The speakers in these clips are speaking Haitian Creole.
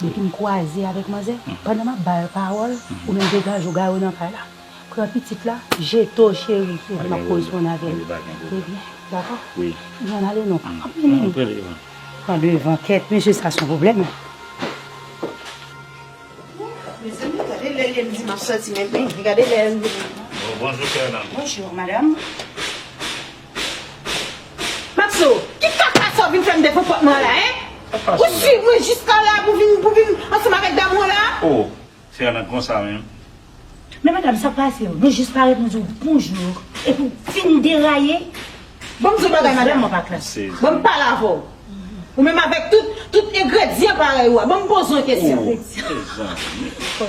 Depi m kwaze avèk manzè, pandan map ba yo pawòl, ou menm degaje w gare w nan kay la. Pran pitit la, jete w cheri epi map koresponn avè l. Trè byen, dakò? Vin ann ale non. An pran devan. Pran devan kèt, mesye sa son pwoblèm. Mezanmi gade lè lèm di map sòti menm gade lè. Bonjou chère dame. Bonjou madame. Maxo, ki kaka sa w vin fè m de konpòtman an la, hein? Ou swiv mwen jiska la pou vin pou vin ansanm avèk damou an la? Oh, se Ana konsa menm? Men madam, sa k pase yo? Mwen jis parèt mwen di w bonjour epi w vin deraye? Bon m di w yon bagay madam, bon m pale avè w, ou menm avèk tout tout engredyan parèy ou a, bon m poze w yon kesyon. Oh, mezanmi!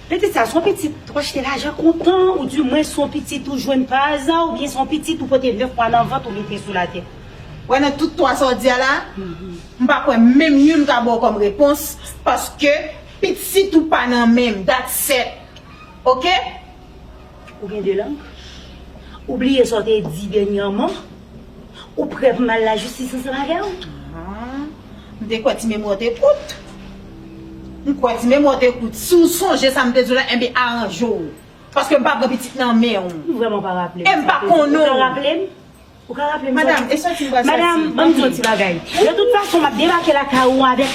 Pitit sa son pitit ou achte lajan kontan ou di mwen son pitit ou jwenn pa aza ou byen son pitit ou pote 9 mwa nan vant ou mete sou la tè. Wè nan tout 3 sa w di a la, m pa kwè menm youn ka ba w kòm repons paske pitit ou pa nan men m, that's it. Ok. Ou gen 2 lang? Ou bliye sa w te di dènyaman? Ou prè pou m al lajistis ansanm avè w? M te kwè ti memwa w te kout. M kwè ti memwa w te kout. Si w sonje sa m te di w la, enben aranje w. Paske m pa pran pitit nan men w. M vrèman pa raple m sa w te di. E m pa konnen w. Ou ka raple m? Ou ka raple m bwa Madam, e sòti m bwa sòti. Madam, ban m di w yon ti bagay. De tout fason, m ap debake lakay ou avèk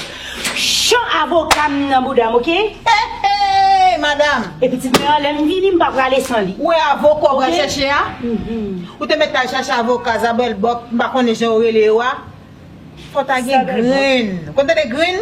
cho avoka m nan bouda m, oke? Eheey! Madam! E pitit mwen an, lè m vini, m pa prale san li. Ou wè avoka ou pral chèche a? Ou te mèt al chèche avoka zabwèlbòk, m pa konnen jan yo rele yo a? Fò w ta gen grenn. Ou konn tande grenn?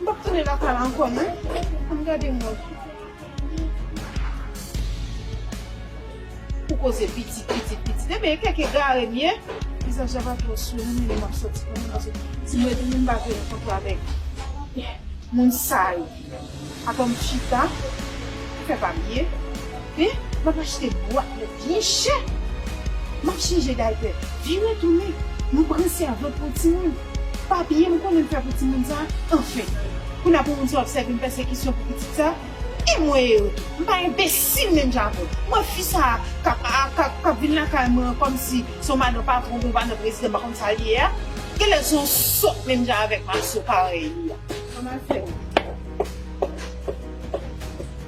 M pap tounen lakay la ankò non. Ann gade mwen. Pou koze pitit pitit pitit. Ebyen e kèk egare m ye. Vizaj la pa twò souri menm lè map sòti pou mwen pase. Si m retounen m pa vle rankontre avèk moun sa yo. Atò m chita. Fè papye. Map achte bwat. Byen chè! M ap chanje daypè. Vire tounen, nou pran sèvant pou yon timoun. Papiye m konnen m fè pou timoun sa a, anfen! Kounye a pou moun sa a ap sèvi m pèsekisyon pou pitit sa a? Enmweyy yo tou! M pa enbesil menm jan avè w. M wè fi sa a k ap a k ap vin lakay mwen an kòmsi se yon madan patwon oubyen yon madan prezidan m pa konn sa l ye a. Genlè l se yon sòt menm jan avè m aso parèy li a. Ann al fè wout.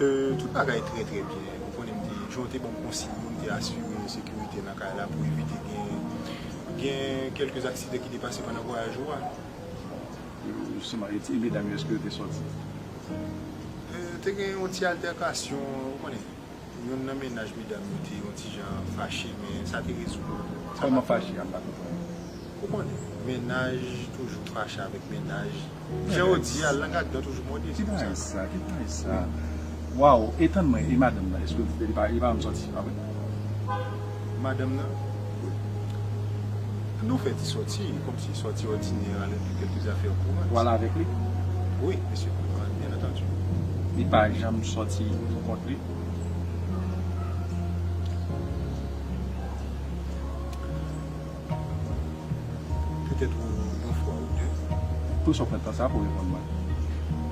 Tout bagay trè trè byen, ou konnen m te jan w te ban m konsiy yo m te asire sekirite nan kay la pou evite gen kèlke aksidan ki te pase pandan vwayaj ou a. E medam yo eske yo te sòti? Te gen yon ti altèkasyon, ou konnen. Youn nan mennaj medam yo te yon ti jan fache men sa te rezoud. Kòman fache a pa te pran yo? Ou konnen, mennaj toujou fache avèk mennaj. Jan yo di a, lang ak dan toujou mòde, se pou sa. Ki bagay sa? Ki bagay sa? Waw! E tann mwen, e madanm nan? Èske li pa janm sòti, se pa vre? Madanm nan? Nou fè ti sòti, kòm si sòti òdinè a, lè di kèlke zafè kouran. Ou al avèk li? Wi, mesye, byen antandi. Li pa janm sòti pou kont li? Petèt yon fwa ou de. Pou sa w pran tan sa a pou w reponn mwen?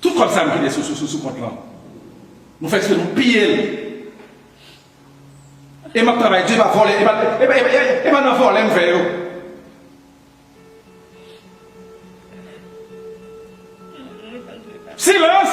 Tout kòb sa nou kite sou kont lan nou fè eksprè nou piye l e map travay di epa vòlè epa nan vòlè m fè yo. Silans!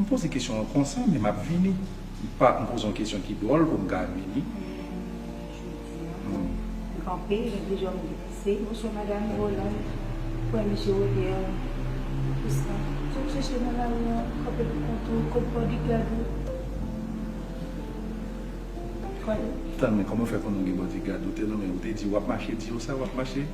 M poze kesyon an konsa men m ap vini. M pa m poze yon kesyon ki dwòl pou m ka vini. M kanpe, m di jòm di. Se mouche madam Roland, pwen mouche Olier. Pou sa. Sa w chèche nan lari an, kanpe pou kont ou, kont bodigad ou. Kòl. Tan men kòman w fè konnen w gen bodigad? Ou te nonmen, ou te di w ap mache, di yo sa w ap mache?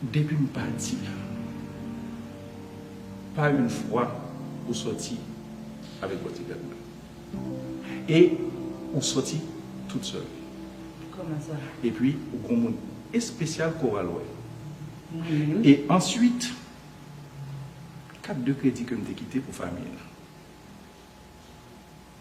Depi m pati la, pa youn fwa ou sòti avèk bòdigad mwen. E ou sòti tout sèl. Kòman sa? Epi ou gon moun espesyal ke w al wè. Mwen menm? E answit, kat de kredi ke m te kite pou fanmi an.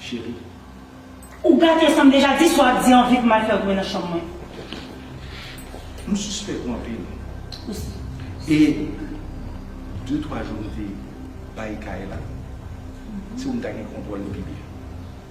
Cheri. Ou gate sam deja di sa w ap di an vit mal fèw tounen nan chanm mwen. M sispèk ou anpil. Ou si. E de twa jou m te bay kay la se ou m ta gen kontwòl li pi byen.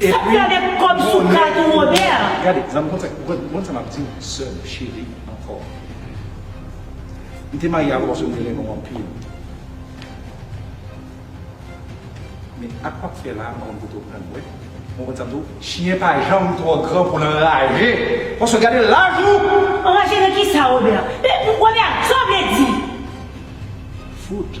Sa fè avèk kòb sou kat ou Robert? Gade zanmi konn sa konn konn sa map diw sèm cheri ankò mte marye avèw paske mte renmenw anpil men ak wap fè la mpa konn kote ou pran wè ou konn sa mdiw chyen pa janm twò gran poul anraje paske gade laj ou. Anraje nan kisa Robert? Men Robert sa w vle di? Fout.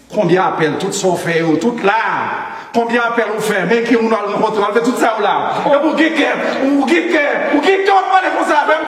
Konbyen apèl tout sa ou fè yo tout la konbyen apèl ou fè men ki moun wal rankontre wal fè tout sa yo la epi ou gen kè ou gen kè ou gen kè wap pale konsa avèm.